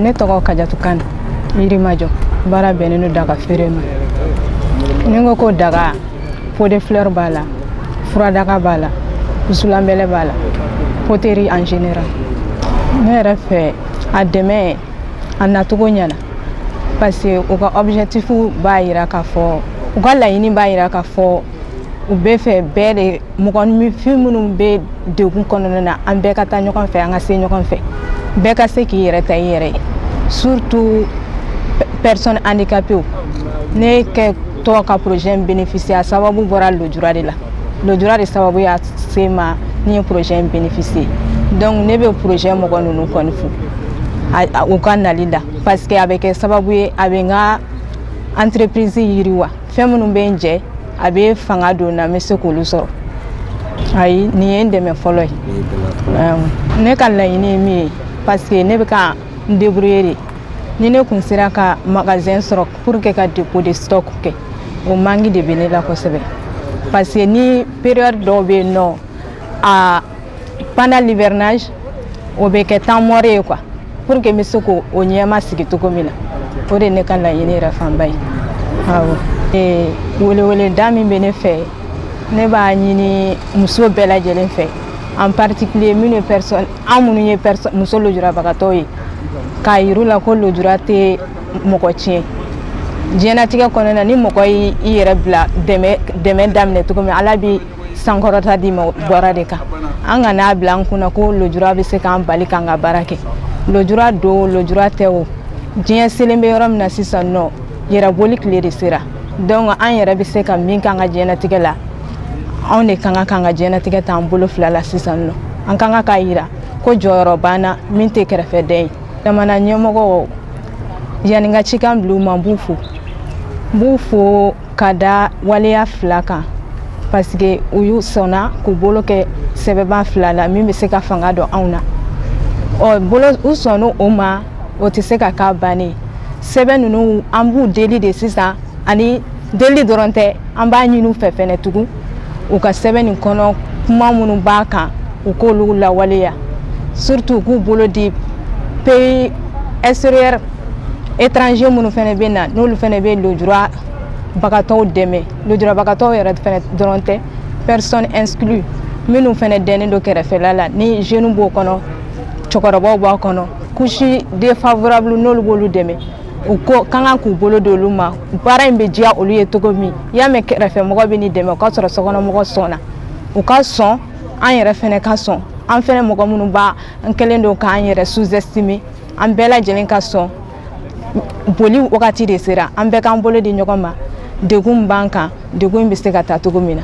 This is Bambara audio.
ne tɔgɔ kajatu kane yirimajɔ baara bɛnnen don daga feere ma ni n ko ko daga pot de fleur b'a la furadaga b'a la wusulanbɛlɛ b'a la poterie en général ne yɛrɛ fɛ a dɛmɛ a nacogo ɲɛna parce que u ka objectif b'a yira k'a fɔ u ka laɲini b'a yira k'a fɔ u bɛ fɛ bɛɛ de mɔgɔninfin minnu bɛ degun kɔnɔna na an bɛɛ ka taa ɲɔgɔn fɛ an ka se ɲɔgɔn fɛ bɛɛ ka se k'i yɛrɛ ta i yɛrɛ ye surtout personne handicapée ne kɛtɔ ka projet in bénéficier a sababu bɔra lojura de la lojura de sababu y'a se ma ne ye projet in bénéficier donc ne bɛ projet mɔgɔ ninnu kɔni fo u ka nali la parce que a bɛ kɛ sababu ye a bɛ n ka entreprise yiriwa fɛn minnu bɛ n jɛ a bɛ fanga don n na n bɛ se k'olu sɔrɔ ayi nin ye n dɛmɛ fɔlɔ ye ne ka laɲini ye min ye parce que ne bɛ ka n débrouiller de ni ne kun sera ka magasin sɔrɔ pour que ka dépôt de stock kɛ o manque de bɛ ne la kosɛbɛ parce que ni période dɔw bɛ yen nɔ a Pendant l'hivernage, o bɛ kɛ temps mort ye quoi pour que n bɛ se k'o o ɲɛma sigi cogo min na o de ye ne ka laɲini yɛrɛ fanba ye awɔ ee weleweleda min bɛ ne fɛ ne b'a ɲini muso bɛɛ lajɛlen fɛ en particulier minnu ye personne an minnu ye personne muso lujurabagatɔw ye k'a yir'u la ko lujura tɛ mɔgɔ tiɲɛ diɲɛnatigɛ kɔnɔna na ni mɔgɔ y'i i yɛrɛ bila dɛmɛ dɛmɛ daminɛ cogo min ala bi sankɔrɔta d'i ma bɔra de kan an kan'a bila an kunna ko lojura bɛ se k'an bali k'an ka baara kɛ lojura don lojura tɛ o diɲɛ selen bɛ yɔrɔ min na sisan nɔ yɛrɛboli tile de sera donc an yɛrɛ bɛ se ka min k'an ka diɲɛnatigɛ la anw de ka kan k'an ka diɲɛnatigɛ t'an bolo fila la sisan nɔ an ka kan k'a yira ko jɔyɔrɔ b'an na min tɛ kɛrɛfɛdɛn ye jamana ɲɛmɔgɔ yanni n ka cikan bila u ma n b'u fo n b'u fo ka da waleya fila kan parce que u y'u sɔnna k'u bolo kɛ sɛbɛnba fila la min bɛ se ka fanga don anw na ɔ bolo u sɔnna o ma o tɛ se ka k'a ban ye sɛbɛn ninnu an b'u deli de sisan ani deli dɔrɔn tɛ an b'a ɲini u fɛ fɛnɛ tugun u ka sɛbɛn nin kɔnɔ kuma minnu b'a kan u k'olu lawaleya surtout u k'u bolo di pays extérieur étranger minnu fɛnɛ bɛ na n'olu fɛnɛ bɛ lojurabagatɔw dɛmɛ lojurabagatɔw yɛrɛ fɛnɛ dɔrɔn tɛ personne exclue minnu fɛnɛ dɛnnen don kɛrɛfɛla la ni jeunes b'o kɔnɔ cɛkɔrɔbaw b'a kɔnɔ couche défavorable n'olu b'olu dɛmɛ u ka kan k'u bolo di olu ma baara in bɛ diya olu ye cogo min i y'a mɛn kɛrɛfɛmɔgɔ bɛ n'i dɛmɛ o k'a sɔrɔ sokɔnɔmɔgɔ sɔnna u ka sɔn an yɛrɛ fɛnɛ ka sɔn an fɛnɛ mɔgɔ minnu b'an kɛlen don k'an yɛrɛ sous-estimer an bɛɛ lajɛlen ka sɔn boli wagati de sera an bɛɛ k'an bolo di ɲɔgɔn ma degun b'an kan degun in bɛ se ka taa cogo min na